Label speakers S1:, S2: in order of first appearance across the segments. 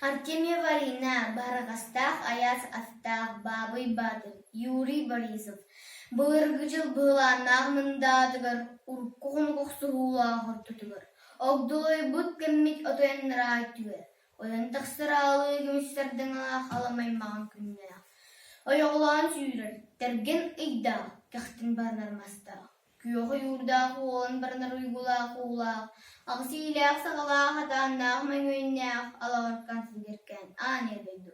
S1: Артемий Варина, Баһараҕастаах айаас астаах Баабый Баатыр, Юрий Борисов, былыргы дьыл быһылааннаах мындаатыгар урукку хонук охсуһуулаах ортотугар огдолойбут кэммит отойоннараа өттүгэр ойон тахсар аалыы көмүс сардаҥалаах алам аймаҕын күннээх ойоҕолоон сүүрэр, тэргэн ыйдаах кэхтэн баранар мастаах Күөх ойуурдаах уолун баранар уйгулаах уулаах, аҕыс иилээх-саҕалаах хатааннаах мөҥүөннээх алаҕыркан силиркээн аанньа дойду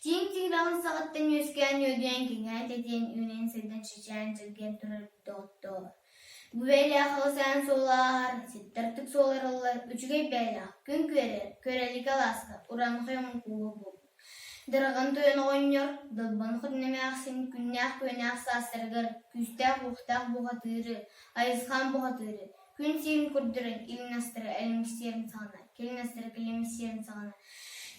S1: тииҥ тигирэҕин саҕаттан үөскээн үөдүйэн кэҥээн тэтиэн үүнэн сырдан чычаан чиргэн турар доҕоттоор. Гүбээлээх халысаан суоллааһар, ситтартык суоларыллар үчүгэй бээлээх, күн күөрэ, көрөлүкэ алааска, уран хойон кууһу бу. Дараҕан Туйан оҕонньор Далбан Хотун эмээхсин күннээх-күөннээх саастарыгар күүстээх-уохтаах бухатыыры, Айысхаан бухатыыры, күн сиин көрдөрөн илиннастара элимсиэн саҕана, кэлиннастара кэлимсиэн саҕана,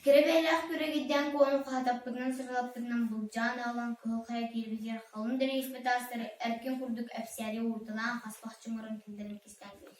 S1: кэрэ бэйэлээх күрэгийдээн куону хаһатаппытынан сыралаппытынан былдьаан аҕалан кыһыл хайа киирбитигэр халыҥ дэриэспэ таастары эркин курдук эпсээри уурдалаан хас бах чуҥуран киллэрэн кистээтилэр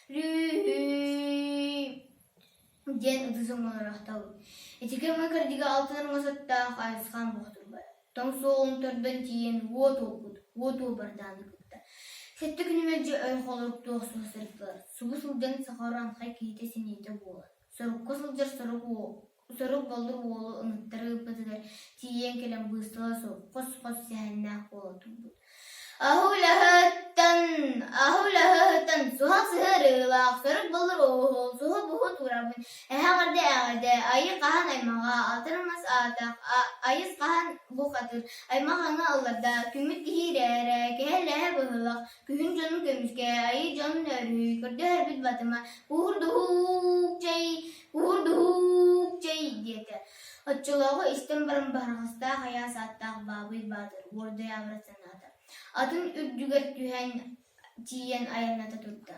S1: диэн ытыс оҥоро охтобут. Итики ама кырдьыга алтан армасаттаах Айысхаан Бохтурбай тоҥ суолун төрдөн тиийэн уо туолбут, уо туобардааны кытта. Сэттэ күнү мэлдьи ой холоруктуох суох сырдылар. Субу сылдьан саха оранхай киһитэ синиитэ буолан, сорукка сылдьар сорук уо Сорук Боллур уолу ымыттары ылбытыгар тиийэн кэлэн быыстала суох хос-хос сэһэннээх буола турбут «Аһы-үлэһыттан, аһы-үлэһыттан, суһал сыһыы арыылаах, Сорук Боллур уоһу, суһу-буһу туорабын, эһэҕэрдэ-эҕэрдэ, айы хаһан аймаҕа, атырын мас аатах, айыс хаһан бух атыр, аймах аны алларда, күммүт киһи ирээрэ, кэһэ-лэһэ быһылах, күһүн дьонун көмүскэ, айы дьонун өрүү, көрдөһөрбүт батыма, куур-дуһуук чэй, Уһу-дуһуук чэй диэтэ, оччолооҕу истэн баран Баһараҕастаах айаас ааттаах Баабый Баатыр уордайаабырат санаата, атын үрдүгэр түһэн тиийэн айанната турда